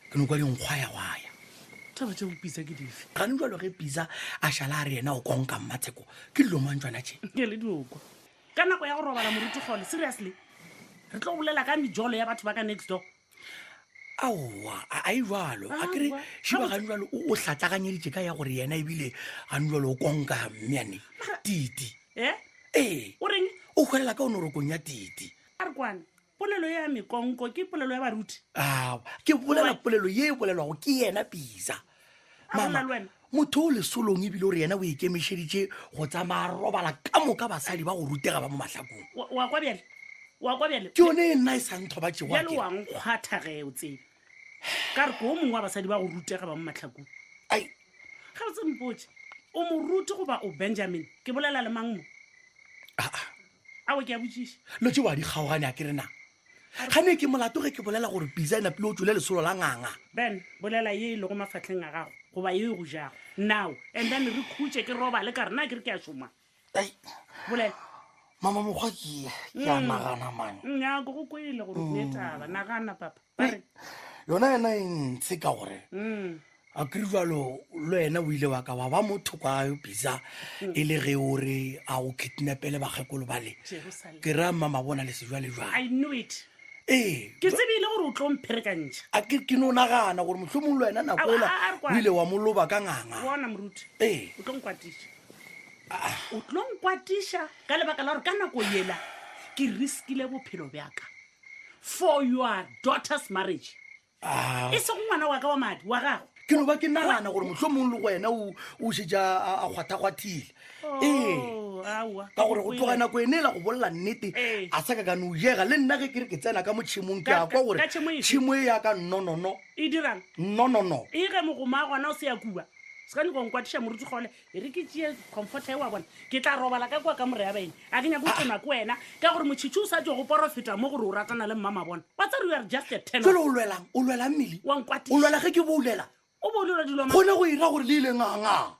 ke no kwa dinkgwa ya gwaya taba tse bopisa ke dife gane jalo ge pisa a šala a re yena o konka mmatsheko ke dilo mang tswana tše ke le diokwa ka nako ya go robala moruti gole seriously re tlo bolela ka mejolo ya batho ba ka next door aowa a a e jalo a kere Aowa. šiba gane jalo o o hlatlaganyeditše ka ya gore yena ebile gane jalo o konka mmeane titi e ee o reng o hwelela ka o norokong ya titi a re kwane Polelo ya mekonko ke polelo ya baruti? Ao, ke bolela polelo ye e bolelwago ke yena Pisa. Mama, motho o lesolong ebile o re yena o ikemišeditše go tsamaya robala ka moka basadi ba go rutega ba mo mahlakong. Wa kwa bjale? Wa kwa bjale? Ke yone e nna e sa nthobatšegoa. Bjale wa nkgwatha ge o tsebe. ka re ko o mongwe wa basadi ba go rutega ba mo matlhakong ai ga botse mpotse o moruti goba o benjamin ke bolela le mang mo ah, ah. a o ke a botšiša lo tse wa di kgaogane a ke re na ga ne ke molato ge ke bolela gore pisa e napile o tswile lesolo la nganga ben bolela ye e lego mafatlheng a gago goba ye e go jago now and then re khutše ke roba le ka rena ke re ke a šoma mama mokgwa ke ke a mm. nagana mane mm, nyako go kwele gore ne mm. taba nagana papa bare yona yena e ntshe ka gore a kry jalo le wena o ile wa ka wa ba motho kwa bisa e le ge o re a go kidnapele bakgekolo ba le ke ra mma mabona le sejwale jwale ee ke tsebile gore o tlo mpherekantšha a ke ke no nagana gore motlhomong le wena nako ela o ile wa moloba ka nganga bona moruti ee o tlo nkwatisa o tlo nkwatiša ka lebaka la gore ka nako yela ke riskile bophelo bjaka for your daughter's marriage e se go ngwana wa ka wa madi wa gago ke no ba ke nagana gore motlho mongwe le go wena o- o šetša a a kgwathakgwathile ee Oh, aowa. ka gore go tloga nako ene e la go bolela nnete Ee. a sa ka ka no jega le nna ge ke re ke tsena ka mo tšhemong ke Ka- a kwa ka- gore ka tšhemo efe? tšhemo e ya ka nnonono e dirang nnonono e ge mogoma gona o se ya kuba sekane go nkwatiša moruti kgole e re ke tšee comforta e wa bona ke tla robala ka kwa ka moreya baeng a ke nyako tsena ko wena ka gore motšhitšhi o sa tšo go porofeta mo gore o ratana le mmama bona wa tsare are just a ten jalo o lwelang o lwelang mmele wa nkwatiša o lwela ge ke boulela o boulelwa dilo gone go ira gore le ile nganga